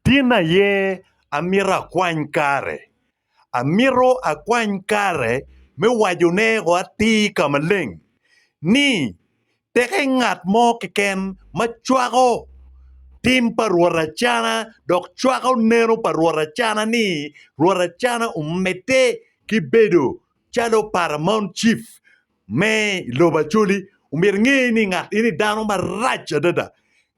Tin aye amito akwany kare. Amito akwany kare me wacone o atir ka maleng ni peke ngat mo keken ma cwako tim pa Rwot Acana dok cwako neno pa Rwot Acana ni Rwot Acana omedde ki bedo calo Paramount Chief me i lobo Acholi. Omyero inge ni ngat eni dano marac adada.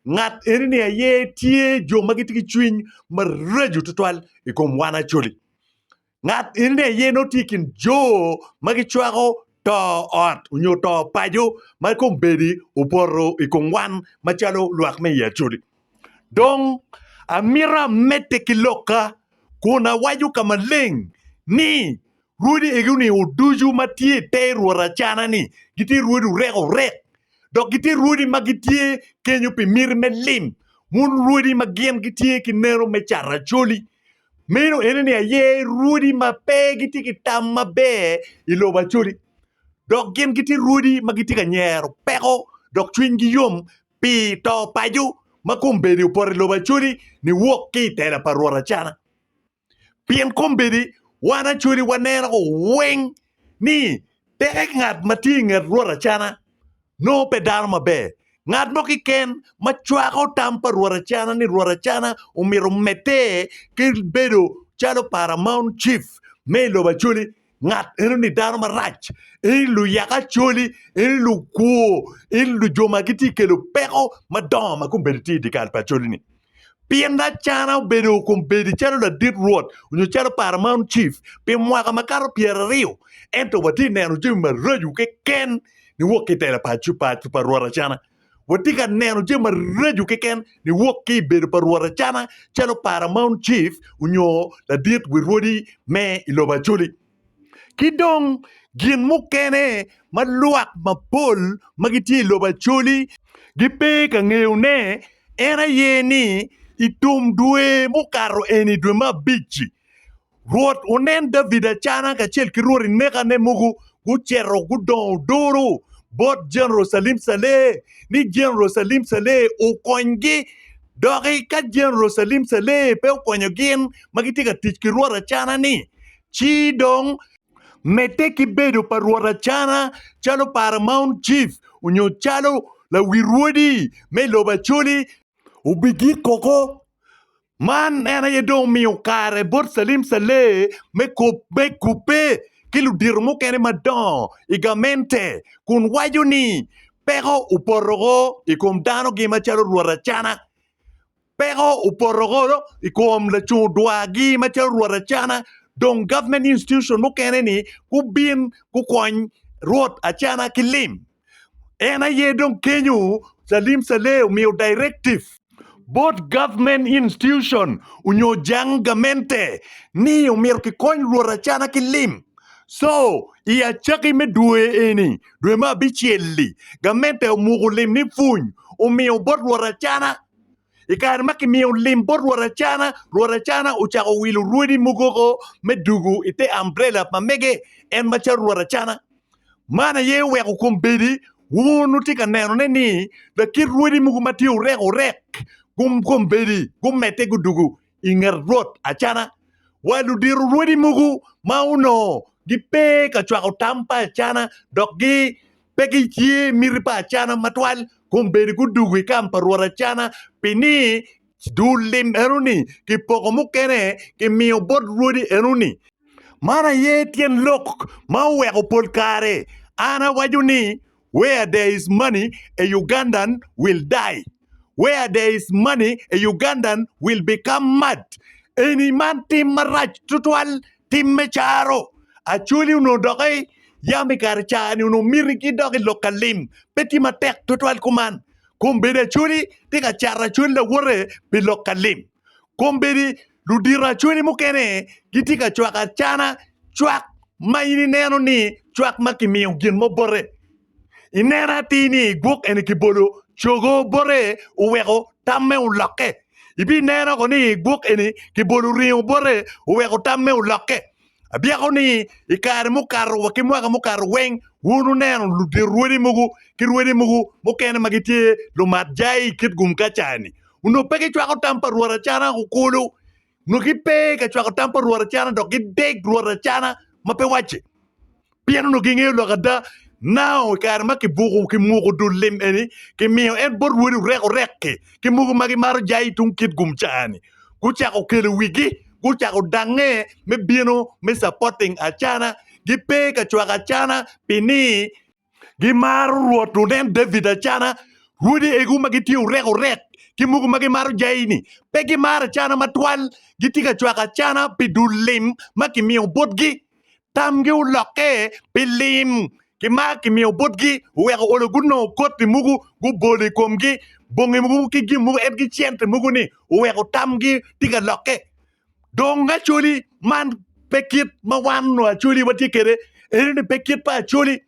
Ngat eni-ni aye tye jo ma gitye ki cwiny maraco tutwal i kom wan Acholi. Ngat eni-ni aye nongo tye i kin jo ma gicwako to ot onyo to paco ma kombeddi opoto i kom wan macalo lwak me i Acholi. Dong amito amedde ki lokka kun awaco ka maleng ni Rwodi egoni o ducu ma tye i te rwot acana ni gitye rwodi orek orek dok gitye rwodi ma gitye kenyo pi miti me lim wun rwodi ma gin gitye ki neno me cato acoli meno ene ni aye rwodi ma pe gitye ki tam maber i lobo acoli dok gin gitye rwodi ma gitye ka nyero peko dok cwiny gi yom pi to paco ma kombeddi opoto i lobo acoli ni wok ki i tela pa rwot acana Pien kombeddi wan acwali waneno weng ni tek ngat ma tye i nget Rwot acana nongo pe dano maber. Ngat mo keken ma cwako tam pa Rwot acana ni Rwot acana omyero omedde ki bedo calo paramount chief me i lobo acwali, Ngat eno-ni dano marac, eni luyek acoli, eni lukwo, eni lu jo ma gitye ka kelo peko madongo ma kombeddi tye i dye kare pa acoli-ni. Pien Acana obedo kombeddi calo ladit rwot nyo calo paramount chief pi mwaka makato pyeraryo, ento watye ka neno jami maraco keken niwok ki i tela pa rwot Acana. Watye ka neno jami maraco keken niwok ki i bedo pa Rwot Acana calo Paramount Chief onyo ladit wi rwodi me i lobo Acholi. Ki dong, gin mukene ma lwak mapol ma gitye i lobo Acholi gipe ka ngeyone en aye ni i tum dwe mukato eni, dwe me abic-ci, Rwot onen David acana kacel ki rwodi nekane mogo gucito gudongo duru bot Jerucalem Caleh, ni Jerucalem Caleh okonygi. Dok ka Jerucalem Caleh pe okonyo gin ma gitye ka tic ki rwot acana-ni, ci dong, medde ki bedo pa rwot acana calo paramount chief nyo calo lawi rwodi me lobo acoli, obigik koko Man en aye dong omiyo kare bot Salim Saleh me kubbe ki ludito mukene madongo i gamente kun waco ni peko opoto woko i kom dano gi macalo rwot acana, peko opoto woko i kom lacung dwa gi macalo rwot acana dong government institution mukene ni gubin gukony rwot acana ki lim. En aye dong kenyo Salim Saleh omiyo directive bot government institution onyo jang gamente ni omyero kikony luot acana ki lim. So, i acaki me dwe eni, dwe me abicel-li, gamente omuko lim ni pwony omiyo bot luot acana. I kare ma kimiyo lim bot Rwot Acana, Rwot Acana ocako wilo rwodi mogo oko me dugu i te ambrela pa mege, en macalo Rwot Acana. Man aye oweko kombeddi wun wutye ka nenone ni lakit rwodi mogo ma tye orek orek kombeddi gumedde gudugu i nget Rwot acana, wa ludiro rwodi mogo ma onongo gipe ka cwako tam pa acana dok pe giye miti pa acana matwal, kun bene gudugo i kam pa Rwot acana, pi ni dul lim eno-ni kipoko mukene kimiyo bot rwodi eno-ni. Man aye tyen lok ma oweko pol kare an awaco ni, Where there is money, a Ugandan will die. Where there is money, a Ugandan will become mad. Eni man tim marac tutwal, tim me caro. Acholi onongo dok ei yam i kare cani onongo miti gidok i lok ka lim. Pe tye matek tutwal kuman. Kombeddi acholi tye ka cato acholi lawote pi lok ka lim. Kombeddi ludito acwali mukene gitye ka cwako acana cwak ma in ineno ni cwak ma kimiyo gin mo bote. I neno atir ni gwok eni kibolo cogo bote oweko tamme olokke. Ibineno woko ni gwok eni kibolo ringo bote oweko tamme olokke. Abyeko ni i kare mukato wa ki mwaka mukato weng wun wuneno ludito rwodi mogo ki rwodi mogo mukene ma gitye lumat jai kit gum ka caa-ni onongo pe gicwako tam pa Rwot acana woko kulu. Onongo gipe ka cwako tam pa Rwot acana dok gideg Rwot acana ma pe wacce. Pien onongo gingeyo lok ada, nao i kare ma kibuko ki muko dul lim eni, kimiyo en bot wode orekorek-ki, ki mogo ma gimaro jayi tung kit gum caa-ni, gucako kelo wigi, gucako dangnge me bino me supporting acana, gipe ka cwako acana pi ni gimaro Rwot wunen David acana, rwodi egu ma gitye orekorek ki mogo ma gimaro jayi-ni, pe gimaro acana matwal, gitye ka cwako acana pi dul lim ma kimiyo botgi. tamgi olokke pi lim ki ma kimiyo botgi, oweko olo gunongo koti mogo gubolo i komgi, bongi mogo ki gin mogo en ki cente mogo-ni oweko tamgi tye ka lokke. Dong Acholi man pe kit ma wan nongo Acholi watye kwede eno ni pe kit pa Acholi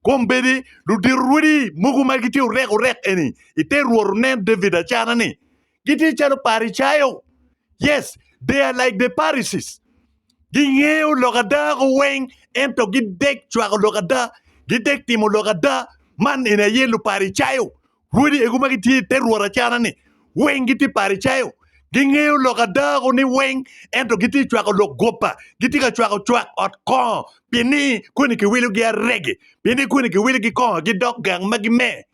kombeddi ludito rwodi mogo ma gitye orekorek eni ite rwot onen David acana-ni Gitye calo Paricayo. Yes, they are like the Pharisees. Gingeyo lok ada ko weng, ento gidek cwako lok ada, gidek timo lok ada. Man eni aye Luparicayo. Wodi egu ma gitye i te Rwot acara-ni, weng gitye Paricayo. Gingeyo lok ada ko ni weng, ento gitye ka cwako lok goba. Gitye ka cwako cwak ot kongo, pienni koni kiwilogi aregi, pienni koni kiwilogi kongo gidok gang ma gime.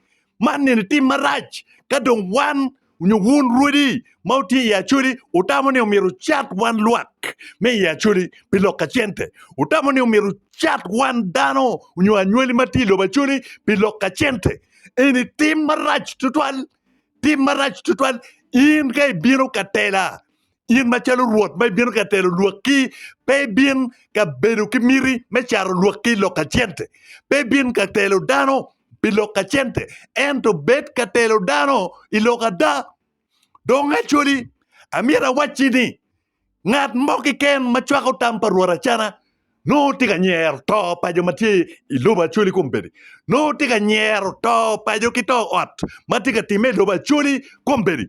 Man eni tim marac ka dong wan nyo wun rwodi ma wutye i Acoli wutamo ni myero wucat wan lwak me i Acoli pi lok ka cente. Wutamo ni myero wucat wan dano nyo anywali ma tye i lobo Acoli pi lok ka cente. Eni tim marac tutwal, tim marac tutwal. In ka ibino ka tela, In macalo Rwot ma ibino ka telo lwakki, pe ibin ka bedo ki miti me caro lwakki i lok ka cente. Pe ibin ka telo dano pi lok ka cente, ento bed ka telo dano i lok ada. Dong Acholi, amyero awacci ni, ngat mo keken ma cwako tam pa Rwot Acana, nongo tye ka nyero to pa jo ma tye i lobo Acholi kombeddi, nongo tye ka nyero to paco ki to ot ma tye ka timme i lobo Acholi kombeddi.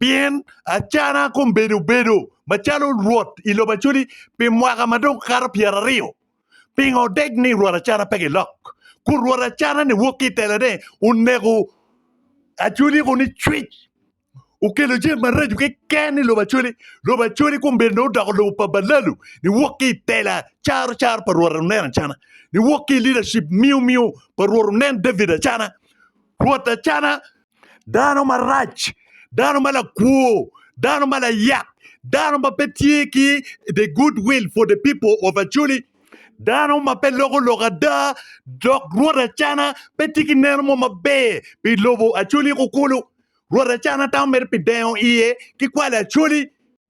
pien acana kombedo bedo macalo rwot i lobo Acudi pi mwaka ma dong kato pyeraryo. Pingo odeg ni rwot acana pe gilok? Kun rwot acana ni wok ki i telone oneko Acudi ko ni cwic, okelo jami maraco keken i lobo Acudi. Lobo Acudi kombedo ni odoko lobo pa balalu ni wok ki i tela caro caro pa rwot onen acana, ni wok ki i leadership miyo miyo pa rwot onen David acana. Rwot acana dano marac, dano ma lakwor, dano ma layak, dano ma pe tye ki the good will for the people of Acholi, dano ma pe loko lok ada dok Rwot Acana pe tye ki neno mo maber pi lobo Acholi kukulu. Rwot Acana tamo mere pi deno iye ki kwali Acholi.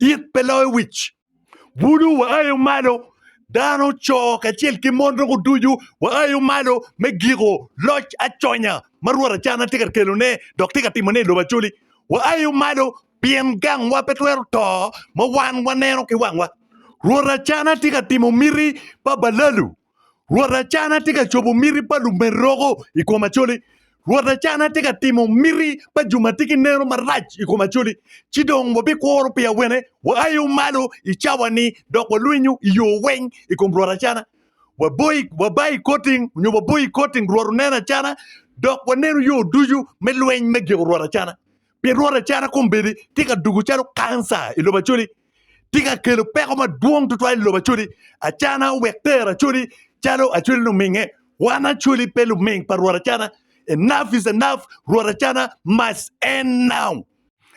it pe loyo wic. Budu waayo malo, dano, co kacel ki mon doko ducu waayo malo me giko loc aconya ma Rwot Acana tye ka kelone dok tye ka timone i lobo Acoli. Waayo malo pien gangwa pe twero to ma wan waneno ki wangwa. Rwot Acana tye ka timo miti pa balalu. Rwot Acana tye ka cobo miti pa lumeroko i kom Acoli. Rwot Acana tye ka timo miti pa jo ma tye ki neno marac i kom Acoli. Ci dong wabikworo pi awene, waayo malo i cawa-ni dok walwinyo i yo weng i kom Rwot Acana. Waboi, waba i koting, nyo waboi i koting, Rwot oneno Acana, dok waneno yo ducu me lweny me giko Rwot Acana. Pi rwot acata kombeddi tye ka dugo calo kanca i lobo Acholi, tye ka kelo peko madwong tutwal i lobo Acholi. Acana owek tero Acholi calo Acholi luminge. Wan Acholi pe luming pa rwot acana. Enough is enough, rwot acana must end now.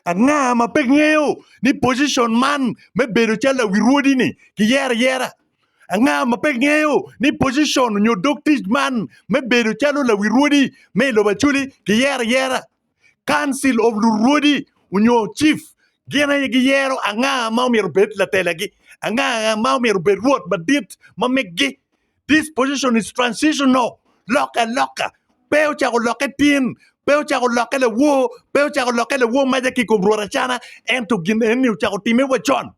Anga ma pe ngeyo ni position man me bedo calo lawi rwodi ni kiyero ayera? Anga ma pe ngeyo ni position nyo dog tic man me bedo calo lawi rwodi me i lobo Acholi kiyero ayera? Council of Lurwodi onyo Chief gin aye giyero anga ma omyero obed latelagi, anga ma omyero obed Rwot madit ma megi. This position is transitional, lokke aloka, pe ocako lokke tin, pe ocako lokke lawor, pe ocako lokke lawor maca ki i kom Rwot Acana, ento gin eni ocako timme wa con.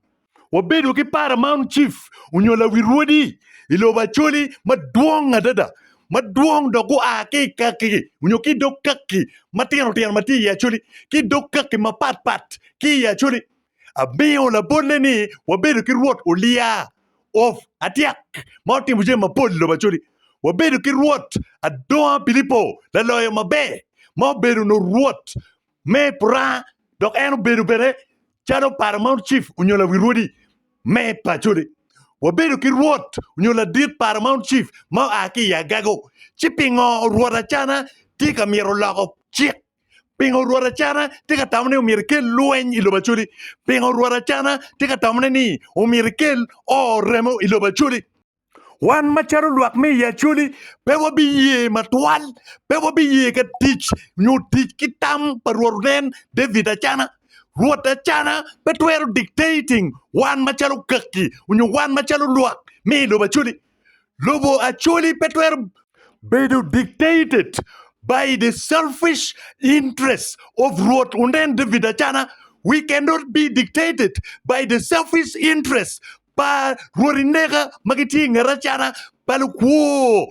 wabedo ki Paramount Chief onyo lawil rwodi i lobo Acholi madwong adada, madwong dok gua ki i kaki-ki onyo ki i dog kaki matino tino ma tye i Acholi ki dog kaki mapat pat ki i Acholi. Amiyo labolle ni wabedo ki Rwot Olia of Atyak ma otimo jami mapol i lobo Acholi. Wabedo ki Rwot Adonga Pilipo laloyo maber ma obedo onongo Rwot me puranga dok en obedo bene calo paro ma cif onyo lawi rwodi me pacone. Wabedo ki rwot onyo ladit paro ma cif ma oa ki i agago. Ci pingo rwot Acana tye ka myero loko cik? Pingo rwot Acana tye ka tamo ni omyero ekel lweny i lobo Acoli? Pingo rwot Acana tye ka tamo ne ni omyero ekel oo remo i lobo Acoli? Wan macalo lwak me i Acholi, pe wabiye matwal, pe wabiye ka tic nyo tic ki tam pa Rwot Onen, David Acana. Rwot Acana pe twero dictating wan macalo kaki nyo wan macalo lwak me i lobo Acholi. Lobo Acholi pe twero bedo dictated by the selfish interests of Rwot Onen, David Acana. We cannot be dictated by the selfish interests pa rwodi neka ma gitye i nget acata pa lukwo.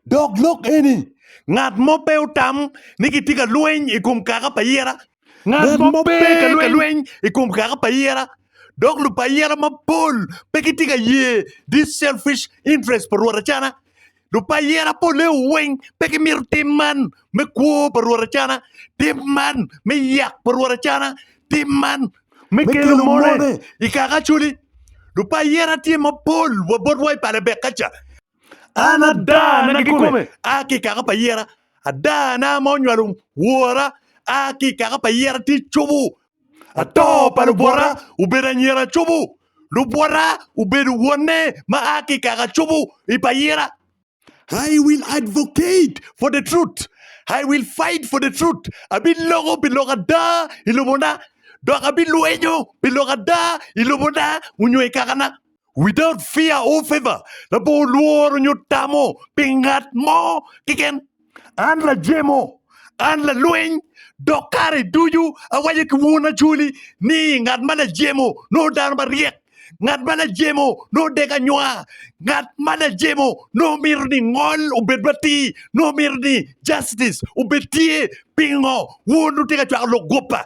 Dok lok eni, ngat mo pe otam ni kitye ka lweny i kom kaka pa ayera. Ngat mo pe ka lweny i kom kaka pa ayera, dok lupa ayera mapol pe gitye ka ye this selfish interest pa rwod acata. Lupayira poleo weng pe gimito tim man me kwo pa Rwot Acana, tim man me yak pa Rwot Acana, tim man me kelo mone i kaka acoli. Lupayira tye mapol wa botwa i pale Bekaca. An adana kikome a ki i kaka payira, adana ma onywalo wora a ki i kaka payira tye cobo Ato pa lubwota obedo anyira cobo, lubwota obedo wonne ma a ki i kaka cobo i pa yira. I will advocate for the truth, I will fight for the truth, abiloko pi lok ada i lobona, dok abilwenyo pi lok ada i lobona onyo i kakana. without fear or favor, labongo lworo nyo tamo pi ngat mo keken. An lajemo, an lalweny, dok kare ducu awaco ki wun acwali ni ngat ma lajemo nongo dano maryek, ngat ma lajemo nongo dek anywa, ngat ma lajemo nongo mito ni ngol obed matir, nongo mito ni justice obed tye. Pingo wun wutye ka cwako lok guppa?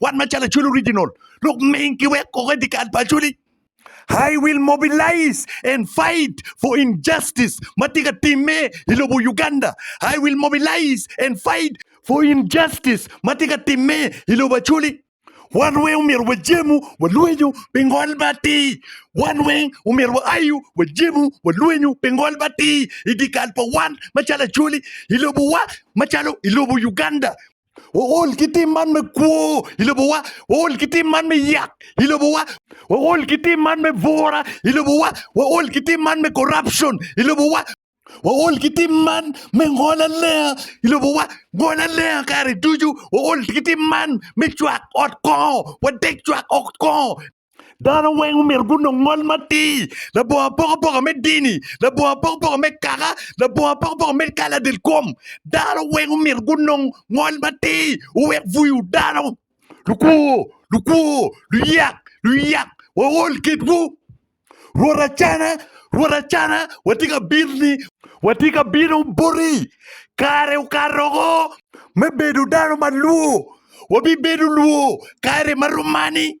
Wan macalo Acholi Original, lok ming ki wek koko i dikal pa Acholi. I will mobilize and fight for injustice ma tye ka timme i lobo Uganda. I will mobilize and fight for injustice ma tye ka timme i lobo Acholi. Wan weng omyero wajemu walwenyu pi ngol ma atir. Wan weng omyero waayu wajemu walwenyu pi ngol ma atir i dikal pa wan macalo Acholi i lobowa macalo i lobo Uganda. Waol ki tim man me kwo i lobowa, waol ki tim man me yak i lobowa, waol ki tim man me bura i lobowa, waol ki tim man me corruption i lobowa, waol ki tim man me ngol alenga i lobowa, ngol alenga kare ducu, waol ki tim man me cwak ot kongo, wadek cwak ot kongo. Dano weng omyero gunong ngol matir, labongo apokapoka me dini, labongo apokapoka me kaka, labongo apokapoka me kala del kom. Dano weng omyero gunong ngol matir, owek buyo dano. Lukwor, lukwor, luyak, luyak, waol kitwu. Rwot Acana, Rwot Acana, watye ka bitni, watye ka bino boti. Kare okato oko me bedo dano ma lwor, wabibedo lwor kare ma rom mani.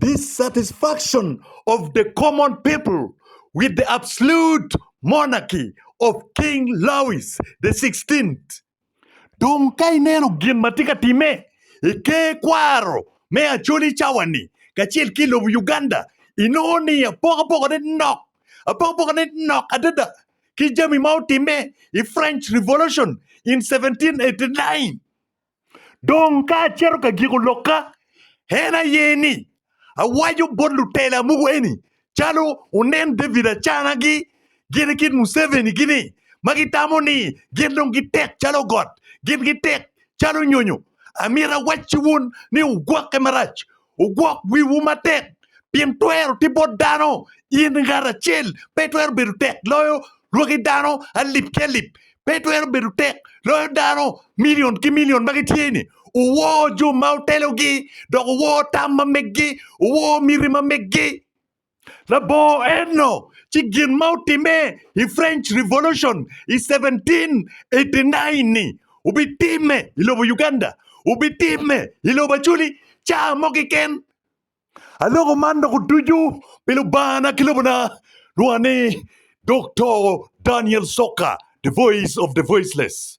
dissatisfaction of the common people with the absolute monarchy of King Louis the Sixteenth. Dong ka ineno gin ma tye ka timme i ker kwaro me Acholi cawa-ni kacel ki i lobo Uganda, inongo ni apokapokane nok, apokapokane nok adada ki jami ma otimme i French Revolution in 1789. Dong ka acito ka giko lokka, en aye ni, awaco bot lutela mogo eni calo wunen David Acanagi gin kit Museveni gi ni, ma gitamo ni gin dong gitek calo got, gin gitek calo nyonyo, amito awacci wun ni wugwokke marac, Wugwok wiwu matek, pien twero tye bot dano, in ngat acel pe twero bedo tek loyo lwaki dano alip ki alip, pe twero bedo tek loyo dano milion ki milion ma gitye-ni. Wuwor jo ma wutelogi, dok wuwor tam ma meggi, wuwor miti ma meggi. Labongo eno ci gin ma otimme i French Revolution i 1789-ni obitimme i lobo Uganda, obitimme i lobo Acholi caa mo keken. Aloko man dok otucu pi Lubanga-na ki lobona, lwonga ni Doktor Daniel Soka, The Voice of the Voiceless.